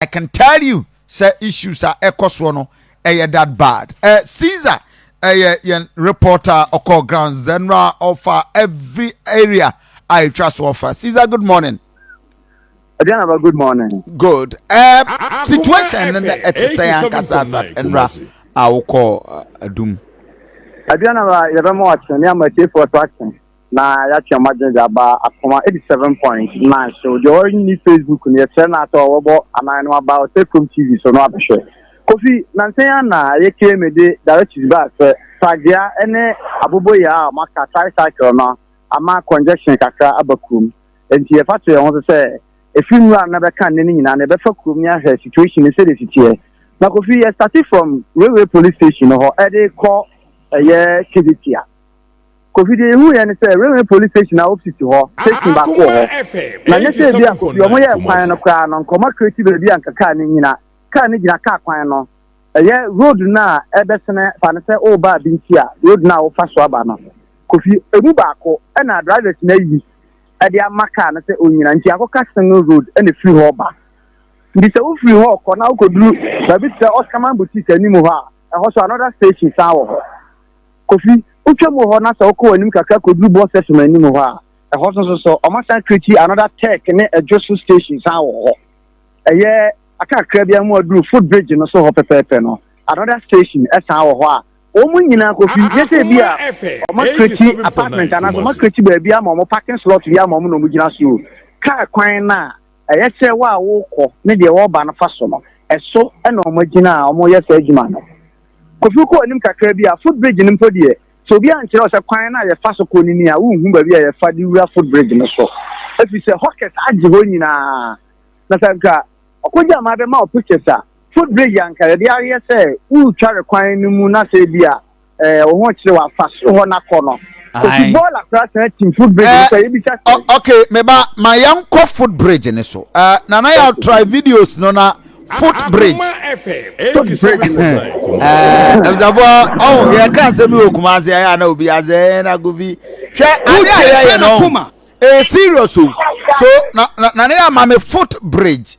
I can tell you sɛ issues a ɛkɔ soɔ no ɛyɛ that bad ɛ eh, Caesar ɛyɛ yɛn reporter ɔkɔ ground general ɔfa every area a ɛtwa so ɔfa Caesar good morning. Aduanaba, good morning. Good. Uh, uh, situation no na ɛte sɛ ankasa asat nnora a wokɔ adum. Aduanaba, yɛbɛma wakyerɛ ne ama atiefoɔ so akyerɛ. na yɛatwe wɔn adwene de aba akoma eighty seven point nine so deɛ ɔnni facebook no yɛkyerɛ no asɛ ɔbɛbɔ anan no aba ɔsɛ kurom tv so no abɛhwɛ kofi nansa yi ana yɛ kame de directions baa sɛ pragea ne aboboyaa a wɔaka tricycle no ama congestion kakra aba kurom nti yɛfa to yɛn ho so sɛ ɛfiri nwura no bɛka nnɛ no nyinaa no yɛbɛfa kurom ne ahwɛ situation no sɛdeɛ siteɛ na kofi yɛ starte from railway police station no hɔ ɛde kɔ ɛyɛ kedetia Kofi deɛ yɛhu yɛ ne sɛ Railway Police Station a Opsi te hɔ, station baako wɔ hɔ. Na nyɛ sɛ ebi a Kofi wɔn yɛɛ kwan no koraa no nkɔma create baabi a nka car no nnyina. Car no gyina car kwan no, ɛyɛ road no a ɛbɛsene fa no sɛ woreba Abinti a, road no a wofa so aba no. Kofi ɛmu baako na drivers no ayi de ama car no sɛ ɔnnyina nti akɔka single road na ɛfiri hɔ ba. Nti sɛ wofiri hɔ kɔ na wokɔduru baabi te sɛ Oscarman Boutique anim hɔ a, ɛhɔ nso another station san wɔ hɔ. Kofi, wotwa mu wɔ hɔ na sɛ wokɔ w'anim kakra kɔduru bus station anim hɔ a, ɛhɔ so nso so, wɔasan create another tech ne adwo so station san wɔ hɔ. Ɛyɛ aka kakra bi a ma wɔaduru footbridge no so hɔ pɛpɛɛpɛ no, another station san wɔ hɔ a wɔn nyinaa, Kofi, gye sɛ bi a wɔacreate apartment anaasɛ wɔacreate baabi ama wɔn, parking slot bi ama wɔn na wɔgyina so o. Kaa kwan no a. Ɛyɛ sɛ wo a worekɔ ne deɛ ɔreba no fa so no, ɛso na wɔagyina a wɔreyɛ saa adwuma no. Kofi kɔ anim kakra bi a, footbridge no mpo deɛ, sɛ obi ankyerɛ wo sɛ kwan no a yɛfa so kɔ no nie a, worenhu baabi a yɛfa de wura footbridge no so, ɛfiri sɛ hawkers agye hɔ nyinaa. Na sɛ anka ɔkɔgyaa ma bɛma wo pictures a, footbridge a anka yɛde ayɛ sɛ woretware kwan no mu na sɛ ebia, ɛɛ wɔn ho kyerɛ wɔ afa soro hɔ n'akɔ no kosi bɔɔl akora san tim footbridge no so a yɛbisa sɛ. ok meba ma yɛn kɔ footbridge no so ɛɛ nana yɛ try videos no na footbridge. footbridge no ɛɛ ɛbisafo ɔn yɛ ka nsɛm yi wɔ kumase ayɛ ana obi azɛ ɛɛ na govi hwɛ ade a yɛyɛ no ɛɛ serious o so na na nana yɛ ama me footbridge.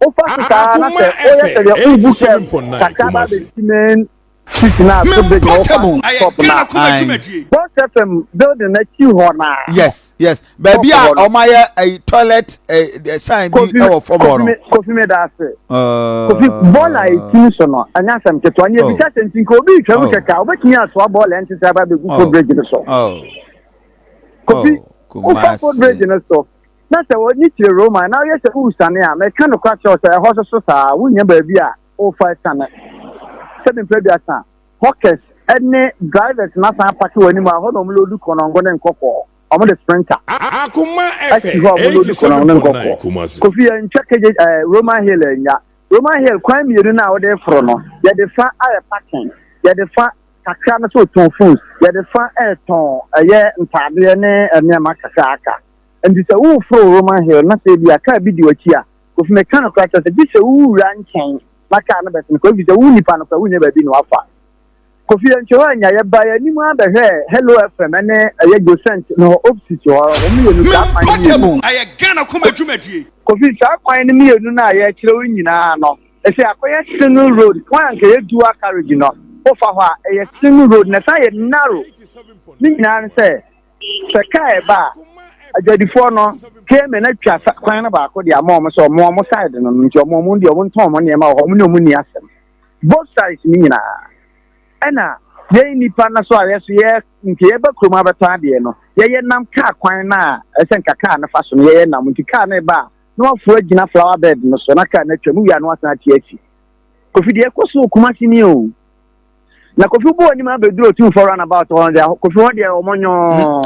Wofa so saa ara na sɛ woyɛ sɛ deɛ worebu kɛɛp kakra ba abɛsi main street no a so big na wofa shop no a, Boss FM building no akyi hɔ no ara. Yes, yes. Baabi a wɔayɛ ɛyi toilet ɛɛ sign bi wɔ fam hɔ no. Kofi mi da ase. Kofi bɔɔla a eti so no, ɛnyɛ asɛm ketewa. Nea ebisa sɛ nti nka obi retwa mu kɛkɛ a, obetumi atoa bɔɔla ɛnte sɛ aba abegu footbridge no so. Kofi, wofa footbridge no so. na sɛ wɔne kyerɛ Roma na ɔyɛ sɛ woresane a, meka nokora kyerɛ wo sɛ ɛhɔ nso so saa ara, wonnya baabi a worefa asiane. Sɛbi mprɛ aduasa, hawkers ne drivers no asan apake w'anim a ɛhɔ na wɔloodu kɔnɔngo ne nkɔkɔɔ, wɔde sprinter asi hɔ a wɔloodu kɔnɔngo ne nkɔkɔɔ. Kofi yɛntwa kegye ɛɛ Roman Hill annya. Roman Hill kwan mmienu no a wode reforo no, yɛde fa ayɛ parking, yɛde fa kakra no sɛ wotɔn phones, yɛde fa retɔn ɛyɛ ntaadeɛ ne nneɛma kakra aka. Enti sɛ woreforo Roman Hill na sɛ ebia kaa bi di w'akyi a, Kofi, meka nokorɛ akyerɛ wo sɛ, gye sɛ wowura nkyɛn na kaa no bɛsen kɔ, ɛfiri sɛ wo nnipa no koraa wonnya baabi na wɔafa. Kofi ankyerɛ hɔ annya, yɛbaa yɛn anim ara bɛhwɛɛ Hello FM ne ɛyɛ Josent no hɔ opposite hɔ, wɔn mmienu saa kwan no mmienu. Ɛyɛ Ghana Kuma dwumadie. Kofi, saa kwan no mmienu no a yɛrekyerɛ wo nyinaa no, ɛsɛ akɔyɛ single road, kwan a anka ɛyɛ dual carriage no, wofa hɔ a, ɛyɛ single road na ɛsan yɛ narrow. Ne nyinaa ne sɛ, sɛ kaa ɛba a agyadifoɔ no payment atwa kwan no baako de ama wɔn sɛ wɔn wɔn side no nti wɔn wɔn deɛ wɔn ntɔn wɔn nneɛma wɔ hɔ wɔn ne wɔn ni asɛm both sides ne nyinaa ɛna yɛn nipa no so a yɛ so yɛ nti yɛba kurom abɛtɔ adeɛ no yɛyɛ nam kaa kwan no a ɛsɛ nka kaa no fa so no yɛyɛ nam nti kaa no ɛba a na waforo agyina flower bed no so na kaa no atwa mu wia no asan ate asi kofi deɛ ɛkɔ so okuma si ni o. na kofi bɔ anim abɛduru otumfoɔ runabout hɔ deɛ kofi hɔ deɛ wɔn nyɔɔ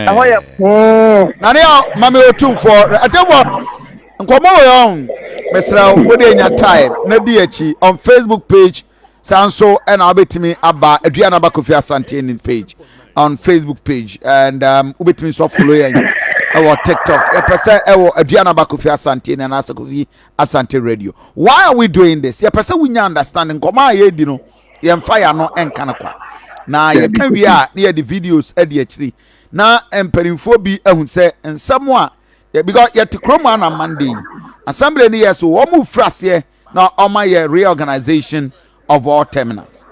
ɛhɔ yɛ poo. na ne yɛ mame otumfoɔ atɛfoɔ nkɔmɔ wɔ yɛn mesrɛ wo de nya time na di akyi on facebook page saa nso ɛna wobɛtumi aba aduane aba kofi asante ne page on facebook page and um, wobɛtumi nso afolo yɛn ɛwɔ tiktok yɛpɛ sɛ ɛwɔ aduane aba kofi asante ne anaasɛ kofi Asante Radio. Why are we doing this? Yɛpɛ sɛ wonya understand nkɔmɔ a yɛredi no yɛmfa yɛn ano nka no kwa. Na yɛka wie a na yɛde videos adi akyiri. Na mpanimfoɔ bi ahu sɛ nsɛm a because yɛte kurom a na Monday assembly no yɛ so wɔn mu firi aseɛ na wɔn ayɛ reorganization of all terminals.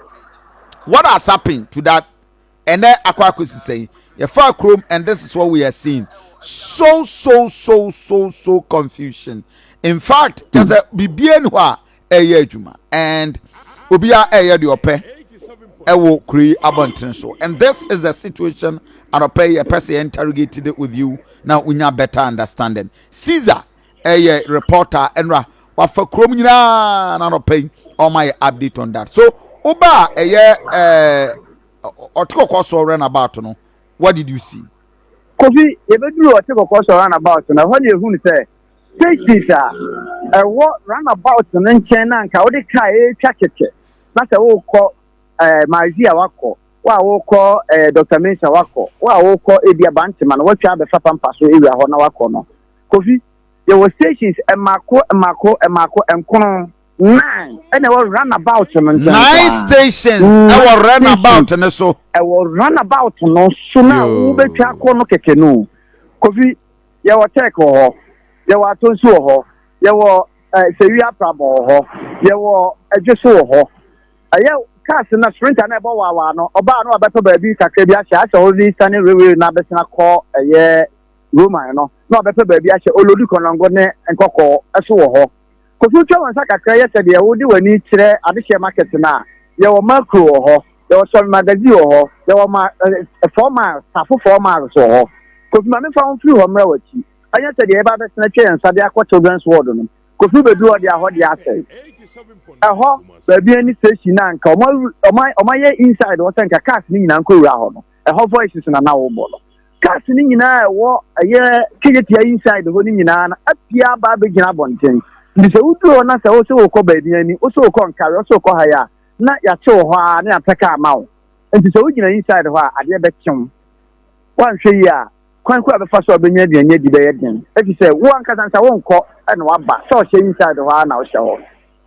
What has happened to that? ɛnɛ akɔ akɔsi sɛn yɛfaa kurom and this is what we are seeing so so so so so confusion in fact kyɛ sɛ biribiara ni hɔ a ɛyɛ adwuma and obiara ɛyɛ deɛ ɔpɛ ɛwɔ kuro yi abɔnten so and this is the situation anɔpɛ yi yɛpɛ sɛ yɛn interrogate it with you na wonya better understanding caesar ɛyɛ reporter ɛnora wafa kurom nyinaa n'anɔpɛ yi ɔma yɛ update on that so woba a ɛyɛ ɛɛ ɔte kɔkɔɔ so run about no what did you see. kofi yɛbɛduru ɔte kɔkɔɔ so run about no ɛhɔ ne ɛhunu sɛ stations a ɛwɔ run about no nkyɛn na nka wode kaa ɛretwa kɛkɛ na sɛ wokɔ ɛɛ maazi a wakɔ wo a wokɔ ɛɛ dr mensa wakɔ wo a wokɔ ebi abantema no watwa abɛfa pampa so ewia hɔ na wakɔ no. Kofi, yɛwɔ stations mmaako mmaako mmaako nkron. Nine ɛna ɛwɔ run about no nkyɛn koraa. Nine stations ɛwɔ run about no so. Ɛwɔ run about no so na wobɛtwa akɔ no kɛkɛ no. Kofi, yɛwɔ Tech wɔ hɔ, yɛwɔ Atonsi wɔ hɔ, yɛwɔ eh, Sewi Aprabɔ wɔ hɔ, yɛwɔ Adwoso wɔ hɔ. Ɛyɛ cars na sprinter na ɛbɔ waawaa no, ɔbaa no abɛtɔ baabi kakra bi ahyɛ asɛ ɔde sane railway no abɛsena kɔ ɛyɛ Roman no, na ɔbɛpɛ baabi ahyɛ Olodu Konongo ne Nkɔkɔɔ so wɔ hɔ. Kofi twa wo nsa kakra yɛ sɛdeɛ wode w'ani kyerɛ adehyeɛ market no a, yɛwɔ Makro wɔ hɔ, yɛwɔ Sɔmi Magazine wɔ hɔ, yɛwɔ ma, eh, Four Miles, Safo Four Miles wɔ hɔ. Kofi ma memfa wo mfiri hɔ mmra w'akyi. Ɛnyɛ sɛdeɛ yɛba abɛsene atwa yɛn nsa de akɔ Children's Ward no. Kofi bɛduru hɔ deɛ a, hɔ deɛ asɛe. Ɛhɔ baabi ani station no a nka wɔayɛ inside hɔ sɛ nka cars no nyinaa nkɔwura hɔ no. ɛhɔ voices na na wɔbɔ no cars no nyinaa ɛwɔ ɛyɛ keyetia inside hɔ no nyinaa no apia aba abɛgyina abɔnten nti sɛ woduru hɔ na sɛ wo sɛ wokɔ baabi ani wo sɛ wokɔ nkare wo sɛ wokɔ ha yɛ a na yɛakye wo hɔ a ne yɛapɛ kaa ma wo nti sɛ wogyina inside hɔ a adeɛ bɛkyew woanhwɛ yi a kwan kɔ a bɛfa so a bɛnya aduane adi bɛyɛ den ɛfiri sɛ wo ankasa nsa wonkɔ ɛna waba sɛ ɔhyɛ inside hɔ a na wohyɛ hɔ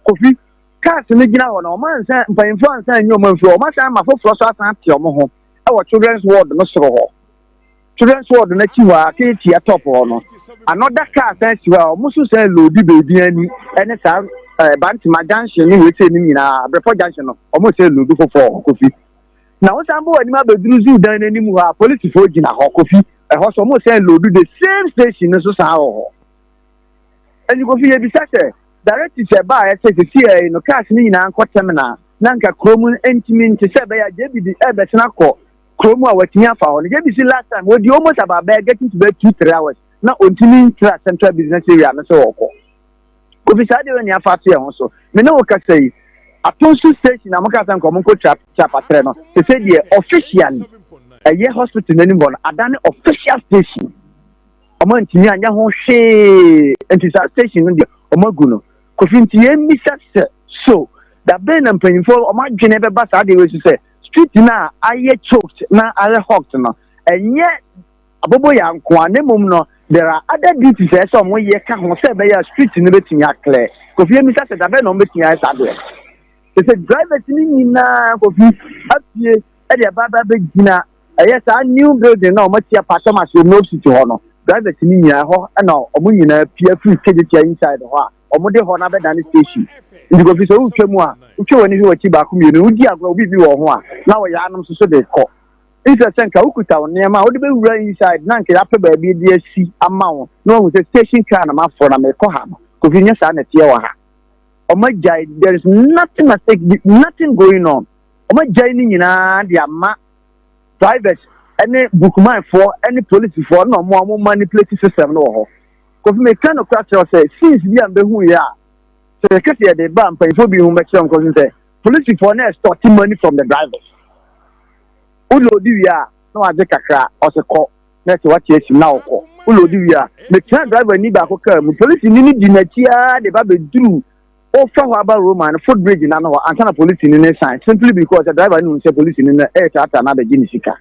kofi Cars no gyina hɔ na wɔn ansan mpanyinfoɔ ansan anyi wɔn amfiri hɔ. Wɔn asan ama foforɔ so asan ate wɔn ho wɔ children's ward no soro hɔ. Children's ward no akyi hɔ a aka etia top hɔ no. Another car san si hɔ a wɔn nso san loodi beebi ani ne saa ɛɛ eh, Bantama junction ne wei sɛ ne nyinaa Brepɔ junction no wɔn san loodi foforɔ kofi. Na wɔn san bɔ wɔn anim abɛduru zoo dan n'anim hɔ a polisifoɔ gyina hɔ kofi. Ɛhɔ so wɔn san loodi the same station no so san wɔ hɔ. Ɛnyi kofi yɛ bisa sɛ. Directors ɛbaa yɛ sɛ sesiɛ yi no cars no nyinaa nkɔ terminal na nka kuro mu ntumi nte sɛ ɛbɛyɛ a JB de ɛbɛsen akɔ kuro mu a watumi afa hɔ no JB si last time wɔdi almost about bɛyɛ getting to bɛyɛ two three hours na ɔntumi ntra central business area no sɛ wɔkɔ kofi saa deɛ wɔni afa ato yɛn ho so me ne wo kasa yi atonso station na moka sɛ nkɔmɔ nkɔ tra trapatrɛ no te sɛ deɛ officially ɛyɛ hospital n'anim hɔ no adane official station ɔmo antumi anyɛ ho hwee nti saa station no deɛ ɔmo agu no kofi nti yɛn mmisa sɛ so dabɛn na mpanyinfoɔ ɔmo adwene bɛba saa adeɛ wei so sɛ street no a ayɛ choked na ayɛ hooked no ɛnyɛ abobo yɛ nkoa ne mmom no there are other duties ɛyɛ sɛ ɔmo yɛ ka ho sɛ ɛbɛyɛ street no bɛtumi aklɛ kofi yɛn mmisa sɛ dabɛn na ɔmo bɛtumi ayɛ saa adeɛ sɛ drivers no nyinaa kofi afie ɛde ɛba bɛgyina ɛyɛ saa new building na wɔn atia pastor ma se no city hɔ no drivers ni nyinaa ɛhɔ ɛna wɔn nyinaa pia firi stage tia inside hɔ a wɔn de hɔ na bɛda ne station nti kofi sɛ wotwa mu a wotwa wɔn ani hwɛ wɔkyi baako mmienu wodi agorɔ obi bi wɔ ho a na wɔyɛ anom soso de kɔ nkyerɛ sɛ nka wokuta wo nneɛma a wode bɛwura inside na nka yɛapɛ baabi de asi ama wo na wahu sɛ station car na mafoɔ na mekɔ ha no kofi nyɛ saa na ɛteɛ wɔ ha ɔma gyae there is nothing at stake nothing going on wɔagyae ne nyinaa de ama drivers ne bookmanfoɔ ne polisifoɔ na wɔn a wɔma ne plate system no wɔ hɔ kofi meka no kora kyerɛw sɛ sins bi a mbɛhu yɛ a sɛ yɛka sɛ yɛde ba mpanyinfoɔ bi ho bɛkyerɛ nkɔ so sɛ polisifoɔ na extort money from the drivers woloodi wie a na wagye kakra ɔsɛ kɔ na ɛsɛ wate asi na ɔkɔ woloodi wie a metra driver ni baako kaa mu polisi ni no di n'akyi ara de ba bɛduru wofa hɔ aba Roma no footbridge no ano hɔ ansa na polisini no resan simply because sɛ driver no hu sɛ polisini no retratra no abɛgye ne sika.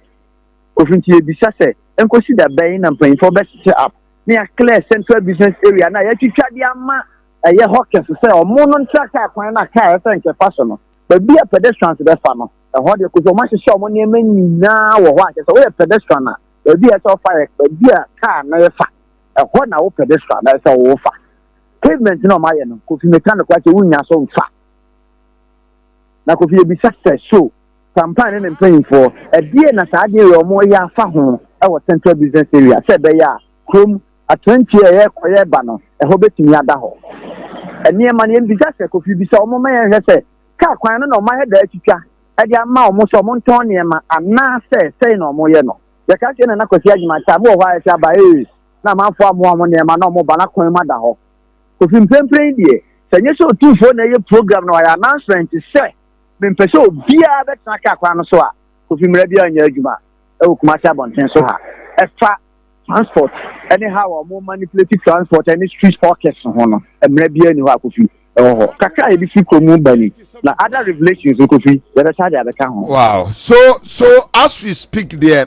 Kofi nti yɛbisa sɛ ɛnkɔsi da bɛn na mpanyimfoɔ bɛsete up na yɛaclear central business area no a yɛatwitwa de ama ɛyɛ hawkers sɛ ɔmo no ntra kaa kwan no a kaa ɛsɛ nkɛfa so no. Baabi a pedestrians bɛfa no, ɛhɔ deɛ kofi ɔmo ahyehyɛ ɔmo nneɛma nyinaa wɔ hɔ a kyerɛ sɛ woyɛ pedestrian a baabi a ɛsɛ ɔfa yɛ baabi a kaa no refa, ɛhɔ na wo pedestrian na ɛsɛ wofa. pavement na ɔmo ayɛ no kofi meka no kora sɛ wonnya so mfa na kofi yɛbisa sɛ so sampan ne ne mpanyinfoɔ ɛdeɛ na saa adeɛ yɛ ɔmo yɛ afa ho ɛwɔ central business area sɛ ɛbɛyɛ a kurom atrantie ɛyɛ kɔyɛ ba no ɛhɔ bɛtumi ada hɔ nneɛma no yɛbisa sɛ kofi bisa ɔmo ma yɛnhwɛ sɛ kaa kwan no na ɔmo ayɛ daa twitwa ɛde ama ɔmo sɛ ɔmo ntɔn nneɛma anaasɛ sɛn na ɔmo yɛ no yɛka sɛ na na kwasi agyima kyɛ abo wɔ hɔ a yɛsɛ aba ee na amanfoɔ amoa wɔn nneɛma na wɔba na kwan mu ada hɔ. Kofi mprempren deɛ, sɛ nyɛ sɛ otumfoɔ na ɛyɛ program na wayɛ announcement sɛ mempɛ sɛ obiara bɛtena kaa kwan no so a, Kofi mmara biara nyɛ adwuma wɔ Kumasi abɔnten so ha ɛfa transport ne how a wɔn manipulate transport ne street hawkers ho no. Mmara biara ni hɔ a Kofi ɛwɔ hɔ. Kakra a yɛde fi kurom mu ba ni na other revelations no Kofi yɛbɛsa de abɛka ho. Wow, so so as we speak deɛ.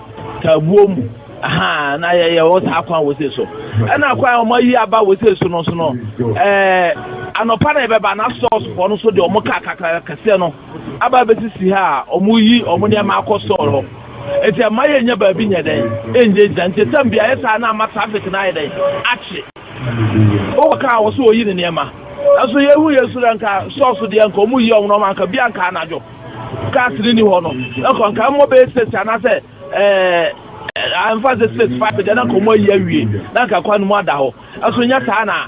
Tabuo mu ahaa na yɛyɛ wɔ saa kwan wɔ sei so ɛna kwan wɔn ayi aba wɔ sei so no so no ɛɛ anɔpa na yɛbɛba na sɔɔs fɔ no so deɛ wɔn kaa kakra kɛseɛ no aba abɛsisi ha a wɔn yi wɔn nneɛma akɔ sɔɔl hɔ nti ɛma yɛ nyɛ baabi nyɛ dɛn ɛnyɛ gyina nti ɛtam beaeɛ saa na ama traffic na ayɛ dɛn akye wɔwɔ kaa wɔ so wɔyi ne nneɛma nanso yɛhu yɛ soro nka sɔɔs deɛ nka wɔn yi wɔn nneɛma nka bi anka anadwo. Gas no ni hɔ no, ɛkɔ nka mmɔ bɛyɛ six anaasɛ ɛɛ ɛmfa sɛ six five deɛ na nka wɔn ayi awie na nka kwan no mu ada hɔ. Ɛso nyɛ saa na.